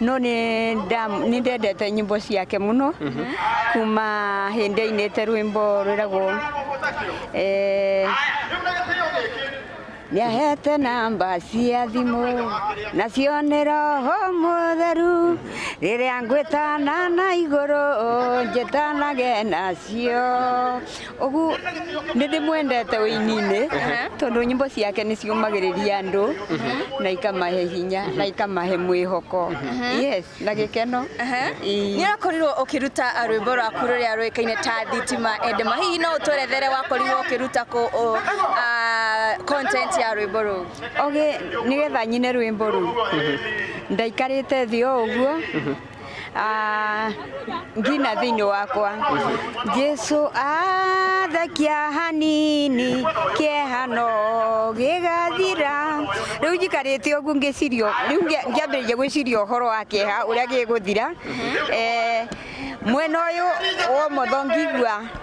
no nĩ ndam- nĩ ndendete nyĩmbo ciake mũno kuma hĩndĩ ainĩte rwĩmbo rwĩragwo eh, nĩahete namba cia thimũ na cione roho mũtheru rĩrĩa ngwĩtana na igũrũ njĩtanage nacio Ũgu nĩ ndĩmwendete ũini-inĩ tondũ nyĩmbo ciake nĩ ciũmagĩrĩria andũ na ikamahe hinya na ikamahe mwĩhoko yes na gĩkeno Ii. nä wakorirwo å kä ruta rwĩmbo rwaku rå rä a rå kaine ta thitima endema hihi no å twerethere wakorirwo å kä ruta kå å- a- content ya rwĩmbo rå u oge nĩgetha nyine rwĩmbo rũu ndaikarĩte thĩ o ũguo Ah, ngina thĩinĩ wakwa jesu athekia hanini kĩehano gĩgathira rĩu njikarĩte ũguo ngĩciria rĩu ngĩambĩrĩria gwĩciria ũhoro wa kĩeha ũrĩa gĩgũthira eh, mwena ũyũ wa ũmotho ngĩigua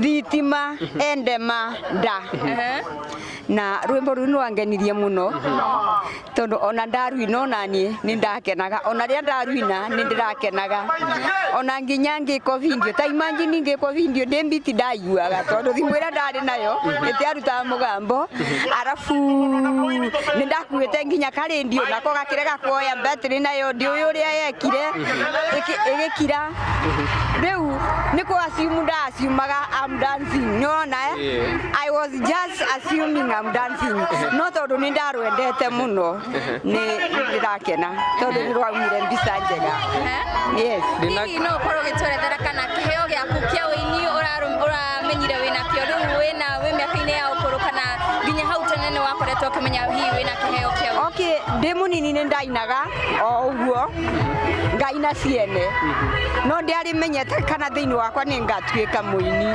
thitima endema nda na rwimbo ruu nwangenirie muno tondu ona ndaruina onanie ni ndakenaga ona ria ndaruina ni ndirakenaga ona nginya ngikwo video ta imagine ngikwo video ndi mbiti ndaiguaga tondu thimu ira ndari nayo itiarutaga mugambo arafu ni ndakuite nginya karendio nako gakirega kuoya battery nayo ndi uyu uria yekire igikira rĩu nĩ kũ assume nda assumaga I'm dancing nĩ wona eh? I was just assuming I'm dancing no tondũ nĩ ndarwendete mũno nĩ ndĩrakena tondũ nĩ rwaumire mbica njega yes Ndĩna- hihi no ũkorwo ũgĩtwerethera kana kĩheo gĩaku kĩa ũini ũraru- ũramenyire wĩna kĩo rĩu wĩna wĩ mĩaka-inĩ ya ũkũrũ kana nginya hau tene nĩ wakoretwo ũkĩmenya hihi wĩna kĩheo kĩa ũini okay ndĩ mũnini nĩ ndainaga o ũguo ngai na ciene no ndĩarĩ menyete kana thĩinĩ wakwa nĩ ngatuĩka mũini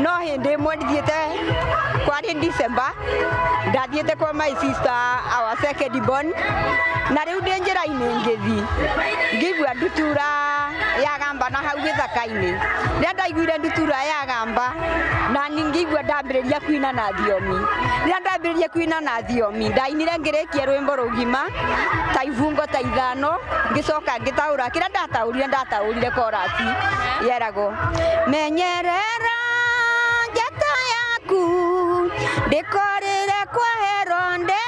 no hĩndĩ ĩmwe ndithiĩte kwarĩ December ndathiĩte kwa my sister our second born na rĩu ndĩ njĩra-inĩ ngĩthi ngĩigua ndutura ya gamba na hau gĩthaka-inĩ rĩrĩa ndaiguire ndutura ya gamba na ngĩigua ndambĩrĩria kuina na thiomi rĩrĩa ndambĩrĩria kuina na thiomi ndainire ngĩrĩkia rwĩmbo rũgima ta ibungo ta ithano ngĩcoka ngĩtaũra kĩrĩa ndataũrire ndataũrire korasi yeragwo menyerera njata yaku ndĩkorĩre kwa heronde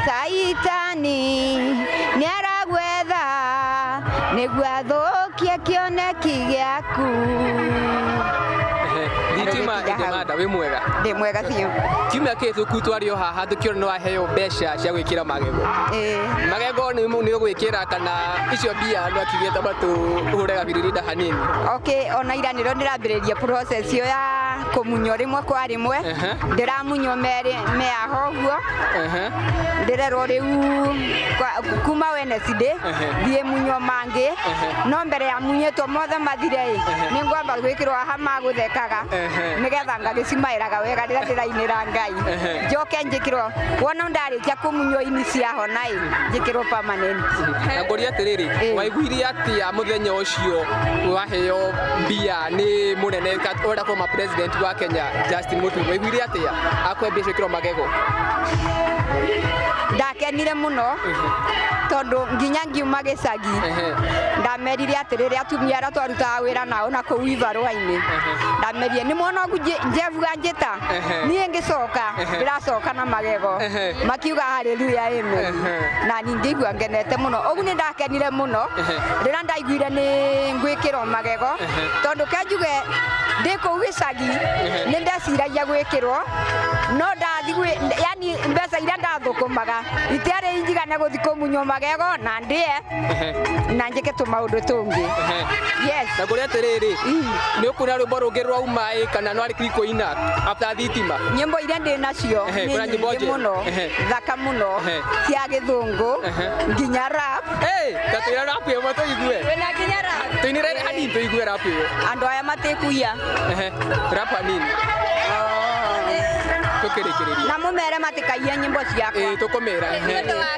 saitani nĩaragwetha nĩguo athũkie kĩoneki gĩaku Ehe, thitima Ndarĩkĩnja hau. ĩngĩmanda wĩ mwega ndĩ mwega ũteithio. Kiumia kĩhĩtũku twarĩ o haha tũkĩona nĩ waheo mbeca cia gwĩkĩra magego. Ĩĩ. Magego nĩ nĩ ũgwĩkĩra kana icio mbia andũ akiuge tamba tũhũre gabiririda hanini. Okay, ona ira nĩrĩo ndĩrambĩrĩria process ĩyo ya kũmunywo rĩmwe kwa rĩmwe. Ehe. Ndĩramunywo merĩ meaha ũguo. Ehe. ndĩrerwo rĩu kwa- kuma Wednesday thiĩ munywo mangĩ no mbere ya munyĩtwo mothe mathire ĩ nĩ ngwamba gwĩkĩrwo aha magũthekaga nigetha ngagĩcimaĩraga wega rĩrĩa ndĩrainĩra ngai njoke njĩkĩrwo wona ndarĩkia kũmunywo ini ciahona-ĩ njĩkĩrwo permanent na ngũria atĩrĩrĩ Ĩĩ. waiguire atĩa mũthenya ũcio waheo mbia nĩ mũnene kat- ũrĩa former president wa kenya justin mũturi waiguire atĩa akwe mbia ciĩkĩrwo magego ndakenire mũno tondũ nginya ngiuma gĩcagi Ehe. ndamerire atĩrĩrĩ atumia arĩa twarutaga wĩra nao na kũu ivarũa nĩ ndamenyire nĩ mwana waku Nje- njevua njĩta niĩ ngĩcoka ndĩracoka na magego makiuga haleluya amen na ningĩ igua ngenete mũno ũguo nĩ ndakenire mũno rĩrĩa ndaiguire nĩ ngwĩkĩrwo magego tondũ kenjuge ndĩ kũu gĩcagi nĩ ndeciragia gwĩkĩrwo no ndathi gwĩ- yani mbeca iria ndathũkũmaga itiarĩ njigane gũthi kũmunywo magego na ndĩe na njĩke tũmaũndũ tũngĩ yes na ngũrĩa atĩrĩrĩ nĩ ũkuona rwĩmbo rũngĩ rwauma ĩ kana no arĩkiri kũina after thitima nyĩmbo iria ndĩ nacio Ehe, nĩ kuna nyĩmbo nyingĩ njega. mũno Ehe. thaka mũno Ehe. cia gĩthũngũ nginya rap Hey, ta tũira rapu ĩmwe tũigue wĩna nginya rap tũinĩre hanini tũigue rapu ĩyo andũ aya matĩkuia Ehe, rapu hanini tũkĩrĩkĩrĩria na mũmere matĩkaia nyĩmbo ciakwa Ĩĩ, tũkũmĩra Nĩ ũndũ wa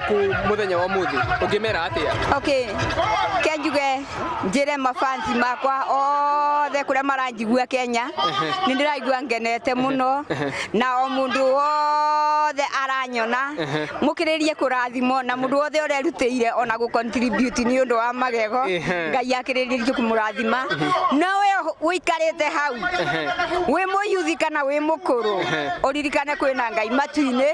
ku muthenya wa muthi ukimera atia okay kenjuge njire mafansi makwa othe kuria maranjigua kenya ni ndiraigua ngenete muno na o mundu wothe aranyona mukiririe kurathimo na mundu wothe urerutire ona gu contribute ni undu wa magego Ehe. ngai akiririe kumurathima na we wikarite hau wi muyuthi kana wi mukuru uririkane kwina ngai matu-ini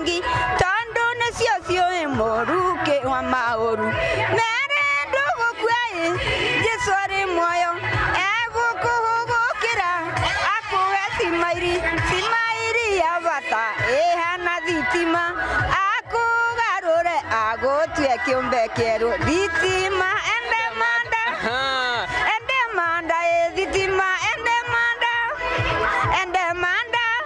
ngi tondũ nĩcio ciũĩ mũru kĩ wa maũru merĩ ndũgũkuaĩ jesu arĩ muoyo egũkũhũgũkĩra akuhe cimairi cimairi ya bata ĩhana thitima akũgarũre agũtue kĩũmbe kĩerũ thitima ende manda ende manda ĩ thitima ende manda ende manda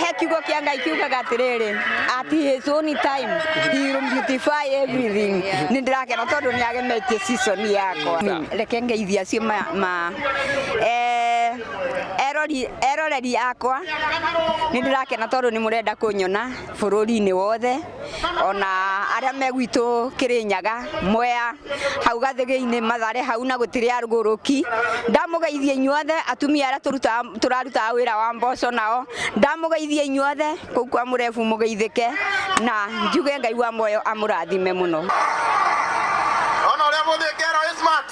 he kiugo kĩa ngai kiugaga atĩrĩrĩ at his own time he will beautify everything nĩ ndĩrakena tondũ nĩ agemetie season yakwa reke ngeithia acio ma, ma eh, erori- eroreri akwa nĩ ndĩrakena tondũ nĩ mũrenda kũnyona bũrũri-inĩ wothe ona arĩa me gwitũ kĩrĩnyaga mwea hau gathĩgĩ-inĩ mathare hau na gũtirĩ arugũrũki ndamũgeithia inyuothe atumia arĩa tũrutaga- tũrarutaga wĩra wa mboco nao ndamũgeithia inyuothe kũu kwa mũrebu mũgeithĩke na njuge ngai wa muoyo amũrathime mũno Ona ũrĩa mũthĩ ngero ĩ smart.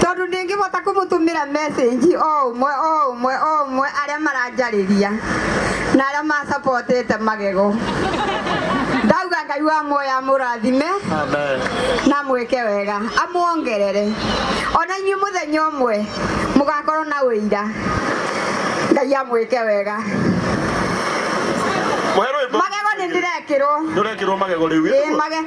Tondũ ndingĩbota kũmũtũmĩra message o ũmwe o ũmwe o ũmwe arĩa maranjarĩria na arĩa ma supportĩte magego. Ndauga Ngai wa muoyo amũrathime na amwĩke wega, amwongerere. Ona inyuĩ mũthenya ũmwe mũgakorwo na ũira. Ngai amwĩke wega. Mũhe rwĩmbo. Magego nĩ ndĩrekĩrwo. Nĩ ũrekĩrwo magego rĩu. Ĩĩ, mage-